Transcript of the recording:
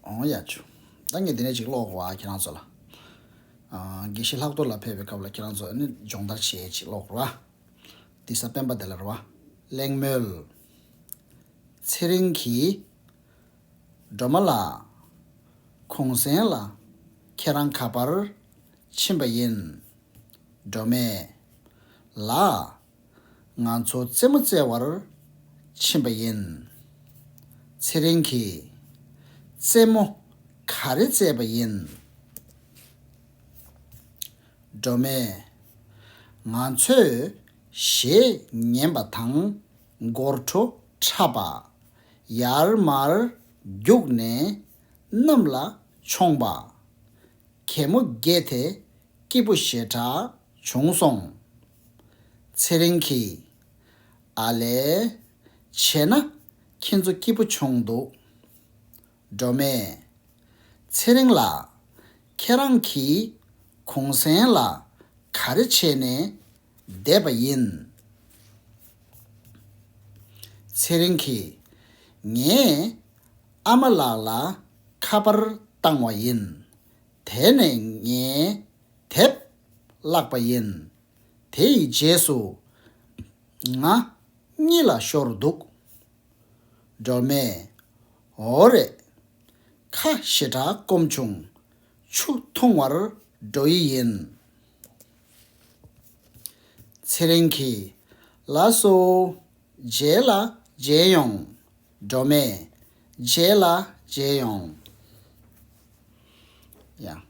ཨོང་ཡ་ཆུ། ད་ངས་དེ་འདྲ་ཞིག་ཀློག་རོགས་ཨ་ཁྱེད་རང་ཚོ་ལ། དགེ་བཤེས་ལྷག་གཏོར་ལ་ཕེབས་པའི་སྐབས་ལ་ཁྱེད་རང་ཚོ་ནི་སྦྱོང་བརྡར་བྱེད་ཡས་ཅིག་ཀློག་རོགས་ཨ། འདི་ས་སྤེན་པ་དེ་ལ་རོགས་ཨ། གླེང་མོལ། ཚེ་རིང་གིས། སྒྲོལ་མ་ལགས། གུང་གསེང་ལ་ཁྱེད་རང་ག་པར་ཕྱིན་པ་ཡིན། སྒྲོལ་མས། ལགས། ང་ཚོ་རྩེད་མོ་རྩེ་བར་ཕྱིན་པ་ཡིན། ཚེ་རིང་གིས། རྩེད་མོ་ག་རེ་རྩེས་པ་ཡིན། སྒྲོལ་མས། ང་ཚོས་གཞས་ཉན་པ་དང་སྒོར་བྲོ་འཁྲབ་པ། ཡར་མར་རྒྱུགས་ནས་གནམ་ལ་མཆོངས་པ། གད་མོ་བརྒྱད་དེ་སྐྱིད་པོ་ཞེ་དྲགས་བྱུང་སོང། ཚེ་རིང་གིས། ཨ་ལས། བྱས་ན། ཁྱེད་ཚོ་སྐྱིད་པོ་བྱུང་འདུག། སྒྲོལ་མས། ཚེ་རིང་ལགས། ཁྱེད་རང་གིས། གུང་གསེང་ལ། ག་རེ་བྱས་ནས། བསྡད་པ་ཡིན། ཚེ་རིང་གིས། ངས། ཨ་མ་ལགས་ལ། ཁ་པར་བཏང་བ་ཡིན། དེ་ནས་ངས། དེབ། བཀླགས་པ་ཡིན། དེ་ཡི་རྗེས་སུ། ང། གཉིད་ལ་ཤོར་འདུག། སྒྲོལ་མས། འོ་རེད། ཁ་ཞེ་དྲག་སྐོམ་བྱུང། ཆུ་འཐུང་བར་འགྲོ་ཡི་ཡིན། ཚེ་རིང་གིས། ལ་སོ། མཇལ་ལ་མཇལ་ཡོང། སྒྲོལ་མས། མཇལ་ལ་མཇལ་ཡོང། ཡང།